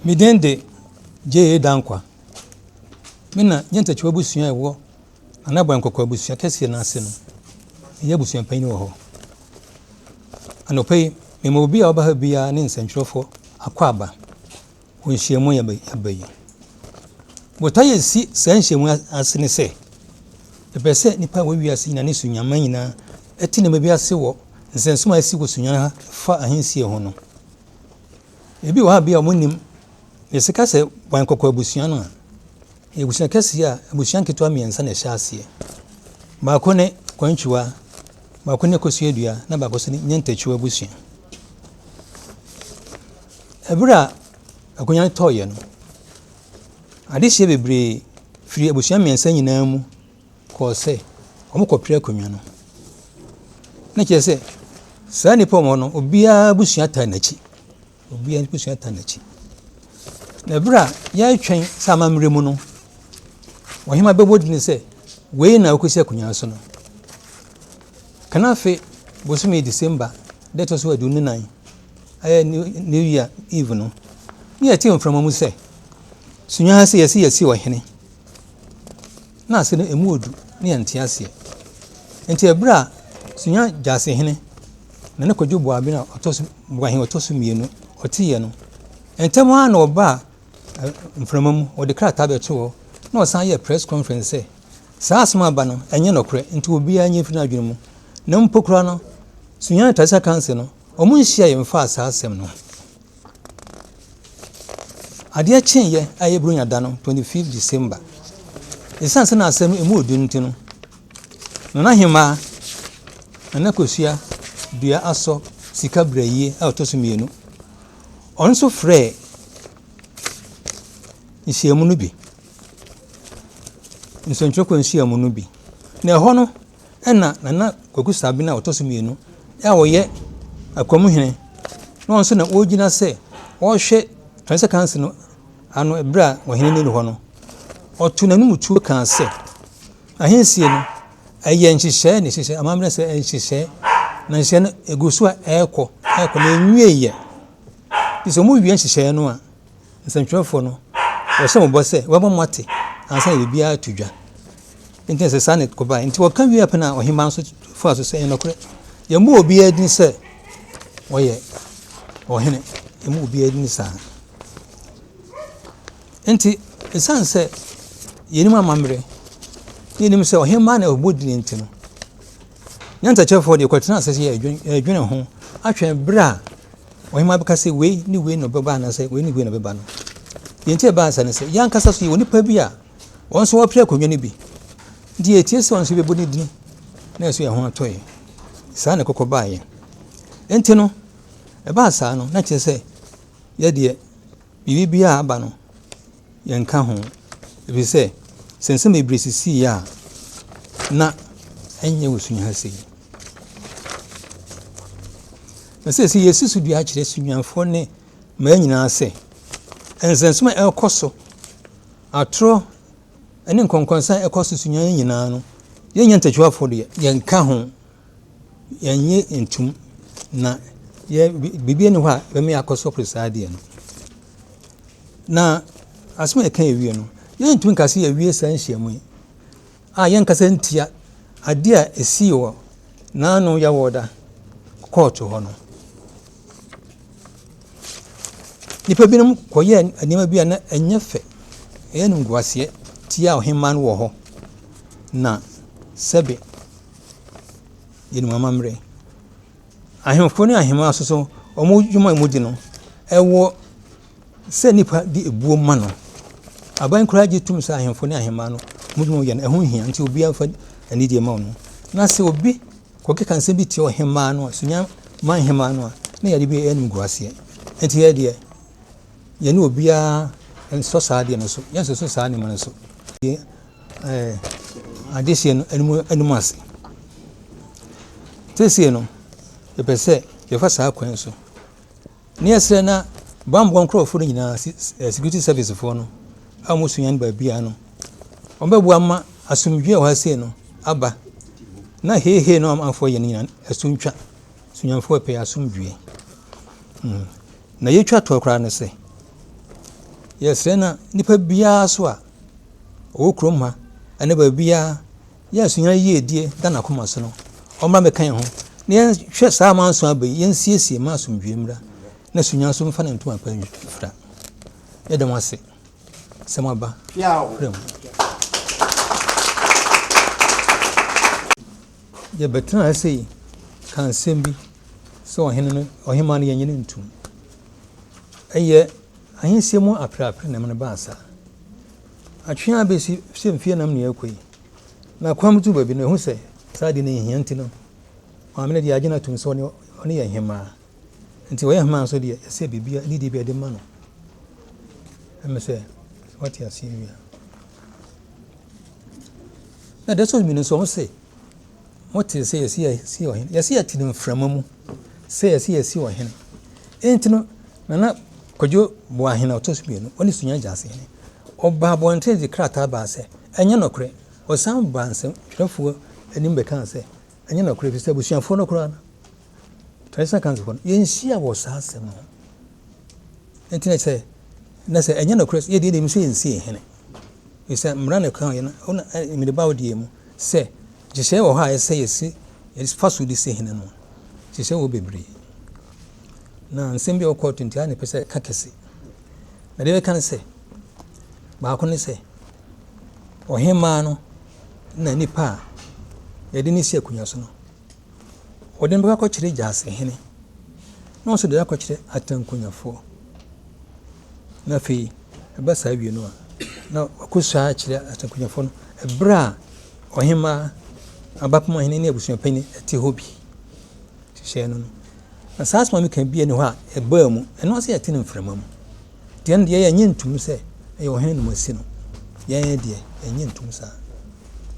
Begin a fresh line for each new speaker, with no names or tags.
Me din de J.A. Dankwa. Me na Nya Ntakyiwa abusua a ɛwɔ Nana Boy Nkɔkɔ abusua kɛseɛ no ase no, meyɛ abusuapanyin wɔ hɔ. Anɔpa yi, mema obi a ɔba ha biara ne nsɛntwerɛfoɔ akwaaba wɔ nhyiamu a yɛaba yi. Botae a ɛsi saa nhyiamu ase ne sɛ, yɛpɛ sɛ nnipa a wɔwɔ ase nyinaa ne sunyaman nyinaa te nneɛma bi ase wɔ nsɛnsom a asi wɔ sunyan ha fa ahensie ho no. Ebi wɔ hɔ a bia ɔmo nnim. Yɛse ka sɛ bɔn kɔkɔ abusua no a, ɛyɛ abusua kɛseɛ a abusua nketewa mmiɛnsa na ɛhyɛ aseɛ. Baako ne Kwantwiwa, baako ne Kosuadua na baako nso ne Nyɛntakyiwa abusua. Ɛberɛ a akonya no tɔɔyɛ no, adehyeɛ bebree firi abusua mmiɛnsa nyinaa mu kɔɔ sɛ wɔkɔpere akonnwa no. Na kyerɛ sɛ, saa nnipa wɔn no, obiara abusua taa n'akyi. Obiara abusua taa n'akyi. Na berɛ a yɛretwɛn sɛ amammerɛ mu no, ɔhema bɛbɔ din sɛ, wei na ɔkɔsi akonnwa no so no. Kanafe bosome December da ɛtɔ so aduonu nan, ɛyɛ New Year Eve no, na yɛte mframa mu sɛ, sunya ha sɛ yɛsi yɛsi ɔhene. na ase no emu odu ne ɛnte aseɛ. Nti ɛberɛ a Sunya Gyasehene na ne Kwadwo Boaben a ɔtɔ so Boahen ɔtɔ so mmienu ɔteeɛ no, ntɛm ara na ɔbaa mframa mu, ɔde krataa bɛto hɔ na ɔsan yɛɛ press conference sɛ saa asɛm aba no ɛnyɛ nɔkorɛ nti obiara nyɛ mfiri n'adwene mu na mpo koraa no Sunya Traditional Council no wɔn nhyiaeɛ mfaa saa asɛm no ho. Adeɛ kyeeɛ a ɛyɛ Buronya da no, 25th December, ɛsiane sɛ na asɛm no ɛmu ɔdu nti no, Nana Ahemaa, Nana Kosua Dua Asɔ Sika Brayie a ɔtɔ so mmienu, ɔno nso frɛɛ nhyiamu no bi, nsɛntwerɛfoɔ nhyiamu no bi, na ɛhɔ no, Ɛna Nana Kwaku Sabena a ɔtɔ so mmienu a ɔyɛ Akwam hene na ɔno nso na ɔgyina sɛ ɔrehwɛ Transition Council no ano berɛ a ɔhene no nni hɔ no, ɔtoo n'anom tuo kaa sɛ, Ahensie no, ɛyɛ nhyehyɛe na ɛhyehyɛ amammerɛ sɛ nhyehyɛe, na nhyehyɛe no gu so a ɛrekɔ, ɛrekɔ na ɛnwieeɛ. Nti sɛ wɔwie nhyehyɛe no a, nsɛntwerɛfoɔ no, wɔhyɛ mo bɔ sɛ wɔbɛma moate ansa na biribiara ato dwa. Enti na sɛ saa na ɛkɔbaeɛ. Enti wɔka wie a pɛ na ɔhemmaa nso faa so sɛ ɛyɛ nokorɛ. Yɛmmɔ obiara din sɛ ɔyɛ ɔhene. Yɛmmɔ obiara din saa. Enti ɛsiane sɛ yɛnim amammerɛ na yɛnim sɛ ɔhemmaa na ɔbɔ din nti no, Nyansa kyerɛfoɔ deɛ kɔtena ase sɛ ɛdwene ho atwɛn berɛ a ɔhema bɛka sɛ wei ne wei na ɔbɛba anaasɛ wei ne wei na ɔbɛba no. Deɛ nti ɛbaa sɛ ne sɛ yɛn ankasa so yɛwɔ nipa bi a wɔn nso wɔpere akonnwa no bi nti yɛtie sɛ wɔn nso bɛbɔ ne din na ɛso yɛn ho atɔ yɛn. Saa na ɛkɔkɔ baa yɛn. Nti no ɛbaa saa no na kyerɛ sɛ yɛdeɛ biribi biara aba no yɛnka ho, ɛfiri sɛ, sɛ nsɛm bebree sisii a, na ɛnyɛ wɔ Sunyani ha sei. Na sɛsi yɛsi so dua akyerɛ Sunyanifoɔ ne mmaa nyinaa sɛ, nsɛnsom a ɛrekɔ so, atorɔ ne nkɔnkɔnsa a ɛkɔ so Sunyani nyinaa no, yɛnyɛ ntɛtwafoɔ deɛ, yɛnka ho. yɛnnye ntom, na yɛ biribi nni hɔ a ɛbɛma yɛakɔsɔre saa adeɛ no. Na asɛm a yɛka awie no, yɛntumi nka sɛ yɛawie saa nhyiam yi a yɛnkasa ntia adeɛ a ɛsii wɔ n'ano yɛwɔ da kɔɔto hɔ no. Nnipa binom kɔyɛɛ nneɛma bi a na ɛnyɛ fɛ, ɛyɛ no nkuaseɛ tia ɔhemmaa no wɔ hɔ, na sɛbe yɛ no amammerɛ. Ahemfo ne ahemmaa nso so, wɔn adwuma a wɔdi no, ɛwɔ sɛ nnipa de ɛbuo ma no. Aban koraa gye tom sɛ ahemfo ne ahemmaa no, wɔn adwuma a wɔyɛ no, ɛho hia nti obiara mfa anidie ma wɔn. Na sɛ obi kɔkeka nsɛm bi tia ɔhemmaa no a, Sunya ma ahemmaa no a, na yɛde bi yɛ animguaseɛ. Nti yɛ deɛ, yɛne obiara nsɔ saa adeɛ no so, yɛnsɔ so saa nneɛma no so. adehyeɛ no anim anim ase. Seesei no, yɛpɛ sɛ yɛfa saa kwan so. Ne yɛsrɛ na bammɔ nkurɔfoɔ no nyinaa, eh, security service foɔ no a wɔsua no baabiara no, wɔbɛboa ma asomdwoe a wɔasɛ no aba na heehee no amanfoɔ yɛ no nyinaa ɛso ntwa. Sunyamfoɔ pɛ asomdwoe. Mm. Na yɛtwa toɔ koraa no sɛ, yɛsrɛ na nipa biara so a ɔwɔ kurom ha ne baabiara, yɛ a sua yiedie da n'akoma so no, ɔmmra mmɛka yɛn ho na yɛnhwɛ saa amanso aba yi, yɛnsiesie ma asomdwoeɛ mmra na sua nso mfa ne ntoma pa mfira. Yɛda mo ase sɛ moaba frɛ mu. Yɛbɛtena ase yi ka nsɛm bi sɛ ɔhene no ɔhema no yɛnyɛ no ntom. Ɛyɛ Ahensie mu apereapereɛ nam no baa saa. Atwe ara bɛsi sɛ mfeɛ nam na ɛrekɔ yi, na kwan mu tu baabi no, ɛhu sɛ saa adeɛ no nhia nti no, maame no deɛ agye no atom sɛ ɔne, ɔne yɛ hemaa. Nti ɔyɛ hemaa nso deɛ, ɛsɛ biribiara, adidie bi ɛde ma no. Ɛmɛ sɛ, wate aseɛ wie a. Na da so mmienu nso, ɔho sɛ, Mote sɛ yɛsi yɛsi ɔhene. Yɛsi yɛte no mframa mu sɛ yɛsi yɛsi ɔhene. Enti no nana kwadwo boa ahene ɔtɔ so mmienu ɔne sunya gyase hene. Ɔbaa abɔnten de krataa baa sɛ ɛnyɛ nɔkorɛ. Ɔsan baa nsɛntwerɛfoɔ anim bɛkaa sɛ ɛnyɛ nɔkorɛ efisɛ abusuafoɔ no koraa no Traditional accounts hɔ no, yɛnhyia wɔ saa asɛm no ho. Nti na sɛ, na sɛ ɛnyɛ nokorɛ sɛ, yɛdeɛ deɛ sɛ yɛnsi yɛn hene. Ɛsɛ mmara na ɛka yɛ no, ɛwɔ na mmede baa ɔdeɛ mu sɛ, nhyehyɛeɛ wɔ hɔ a ɛsɛ yɛsi, yɛfa so de si hene no. Nhyehyɛeɛ wɔ bebree. Na nsɛm bi a ɔkɔɔto nti a na ɛpɛ sɛ ɛka kɛse. Na deɛ ɛka no sɛ, baako ne sɛ, ɔhemaa no na nipa a yɛde ne si akonnwa so no Wɔde no bɛkɔkyerɛ gyasehene, na ɔnso de akɔkyerɛ atankunyafoɔ. Na afei, ɛba saa wie no a, na wakɔsua akyerɛ atankunyafoɔ no ɛberɛ a ɔhemaa, abapoma hene ne abusuapanin te hɔ bi. Hyehyɛɛ no no. Na saa asoma meka bi ne hɔ a ɛbaa mu, ɛno ase yɛte no mframa mu. Deɛ no deɛ yɛnyɛ ntum sɛ ɛyɛ ɔhene nomasi no. Yɛn deɛ, yɛnyɛ ntum saa.